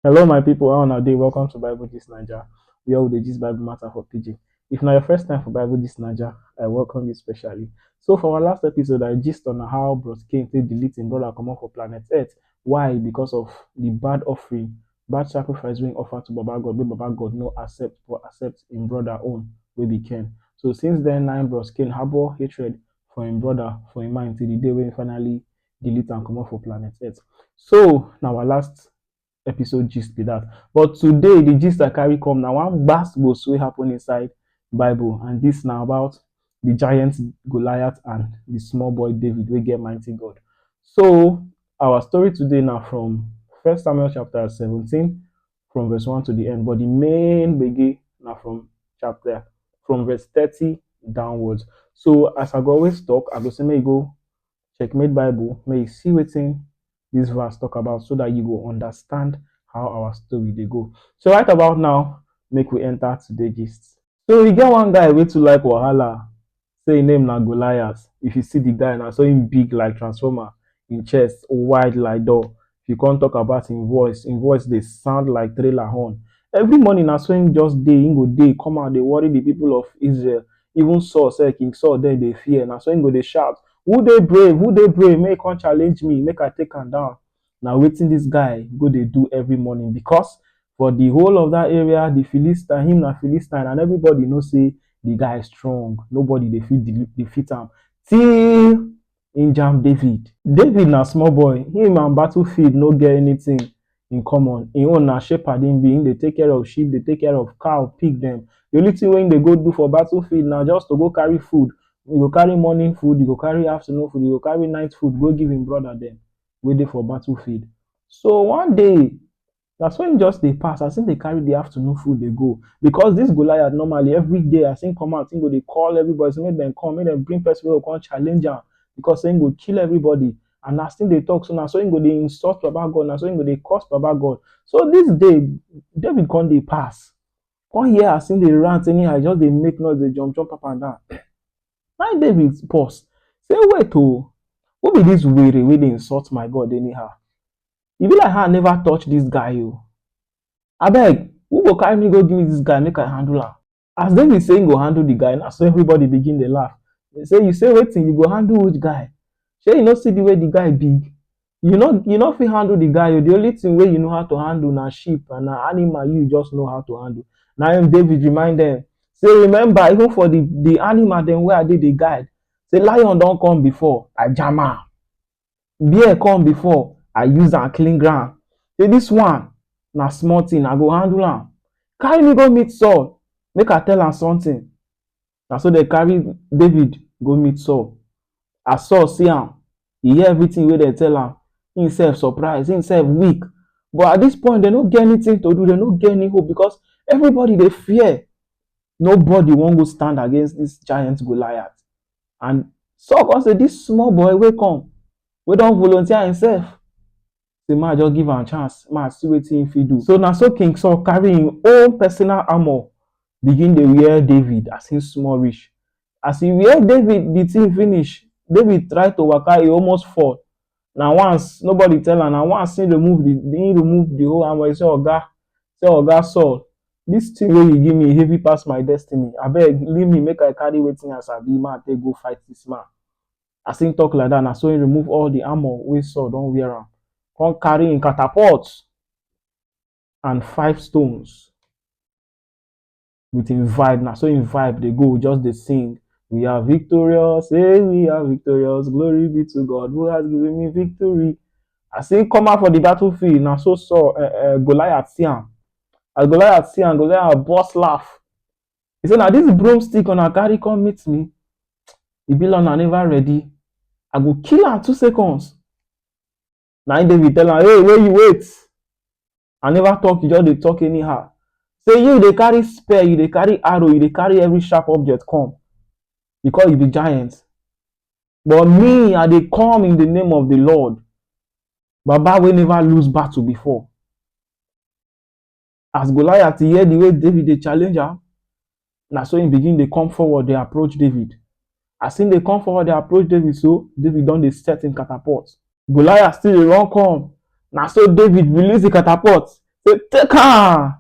Hello my people, how una dey? Welcome to Bible Gist Naija, where we dey gist Bible matter for pidgin. If na your first time for Bible Gist Naija, I welcome you specially. So for our last episode, I gist on how Bros Cain take delete him brother comot for planet Earth. Why? Because of the bad offering, bad sacrifice wey he offer to Baba God, wey Baba God no accept but accept him brother own wey be Cain. So since then, na him Bros Cain harbour hatred for him brother for him mind till the day wey he finally delete am comot for planet earth. So na our last episode gist be that. But today the gist I carry come na one gbas gbos wey happen inside Bible and this na about the giant Goliath and the small boy David wey get mighty God. So our story today na from First Samuel chapter seventeen from verse one to the end but the main gbege na from chapter from verse thirty downwards. So as I go always talk, I go say make you go Checkmate Bible, may you see wetin this verse talk about so that you go understand how our story they go. So right about now, make we enter today gist. So we get one guy way to like Wahala, say his name na Goliath. If you see the guy now, so him big like transformer, in chest wide like door. He come talk about him voice, him voice dey sound like trailer horn. Every morning na so him just dey, him go dey come out dey worry the people of Israel. Even Saul sef, King Saul dem dey fear. Na so him go dey shout, who dey brave, who dey brave make e come challenge me, make I take am down. Na wetin this guy go dey do every morning because for the whole of that area, the Philistine, him na Philistine and everybody know sey the guy strong. Nobody dey fit defeat am till im jam David. David na small boy, him and battlefield no get anything in common, im own na shepherd him be, him dey take care of sheep, dey take care of cow, pig dem. The only thing wey him dey go do for battlefield na just to go carry food, e go carry morning food, e go carry afternoon food, e go carry night food go give im brother dem wey dey for battlefield. So one day, Na so im just dey pass as im dey carry di afternoon food dey go because dis Goliath normally every day as im come out im go dey call everybody say make dem come make dem bring person wey go come challenge am because say im go kill everybody and as im dey talk so na so im go dey insult baba God na so im go dey curse baba God. So dis day David come dey pass come hear as im dey rant anyhow e just dey make noise dey jump jump up and down na im David pause say wait oh who be dis were wey dey insult my God anyhow e be like how I never touch this guy oh. Abeg, who go carry me go give me this guy make I handle am? As David say he go handle the guy, na so everybody begin dey laugh. They say, you say wetin, you go handle which guy? Shey you no see the way the guy big? You no you no fit handle the guy oh, the only thing wey you know how to handle na sheep and na animal you just know how to handle. Na im David remind them say, remember even for the the animal dem wey I dey dey guide, say lion don come before, I jam am. beer come before I use am clean ground say this one na small thing I go handle am carry me go meet Saul make I tell am something na so dem carry David go meet Saul as Saul see am e hear everything wey dem tell am him self surprise him self weak but at this point dem no get anything to do dem no get any hope because everybody dey fear nobody wan go stand against this giant Goliath And Saul come say, this small boy wey come, wey don volunteer himself, say ma just give am chance, ma see wetin him fit do. So na so King Saul carry him own personal armor begin dey wear David as him small reach. As he wear David the thing finish, David try to waka, he almost fall. na once nobody tell am na once he remove the he remove the whole armor he say oga say oga Saul this thing wey you give me heavy pass my destiny abeg leave me make I carry wetin I sabi make I take go fight this man as he talk like that na so he remove all the armor wey Saul don wear am come carry him catapult and five stones. with him vibe na so him vibe dey go just dey sing we are victorious hey we are victorious glory be to God who has given me victory as him come out for the battlefield na so Saul uh, uh, Goliath see am as Goliath see am Goliath burst laugh he say na this broomstick una carry come meet me e be like una never ready I go kill am two seconds na im david tell am hey wey you wait i never talk you just dey talk anyhow say you dey carry spear you dey carry arrow you dey carry every sharp object come because you be giant but me i dey come in the name of the lord baba wey never lose battle before As Goliath hear the way David dey challenge am, na so he begin dey come forward dey approach David. As he dey come forward dey approach David so, David don dey set him catapult. Goliath still dey run come, na so David release the catapult say, Take am!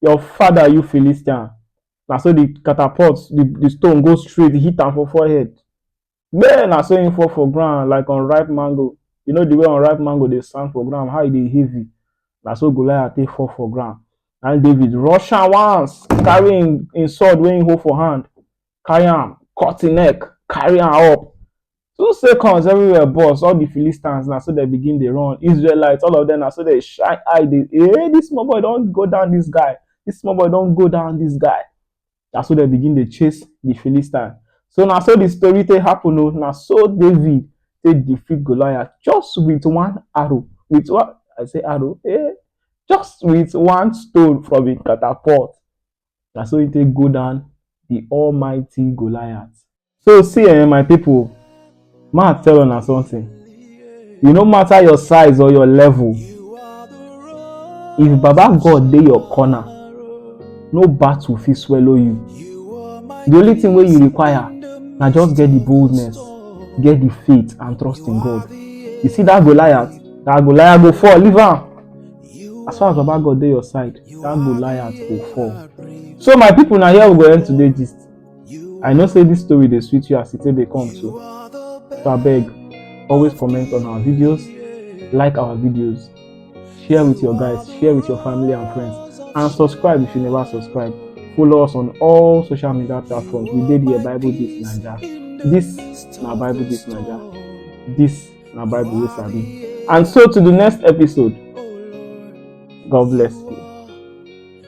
Your father, you Philistine! Na so the catapult, the, the stone go straight, hit am for forehead. Man, na so him fall for ground like unripe mango. You know the way unripe mango dey stand for ground, how e dey heavy. Na so Goliath take fall for ground. Na him David rush am once, carry him, him sword wey him hold for hand, carry am, cut him neck, carry am up. Two seconds, everywhere burst. All the Philistines na so dem begin dey run. Israelites, all of them na so dey shine eye dey, eh, this small boy don go down this guy. This small boy don go down this guy. Na so dem begin dey chase the Philistine. So na so the story take happen o. Na so David take defeat Goliath just with one arrow, with one I say arrow eh, just with one stone from him catapult. Na so he take go down the almighty Goliath. So see eh, my people, ma tell una something. E no matter your size or your level, if Baba God dey your corner, no battle fit swallow you. The only thing wey you require na just get the boldness, get the faith and trust in God. You see that Goliath, that Goliath go fall, leave am. As far as Baba God dey your side, that Goliath go fall. So my people, na here we go end today gist. I know say this story dey sweet you as it dey come too. So I beg, always comment on our videos, like our videos, share with your guys, share with your family and friends, and subscribe if you never subscribe. Follow us on all social media platforms. We did here Bible This Naija. This na Bible This Naija. This na Bible wey sabi. And so to the next episode. God bless you.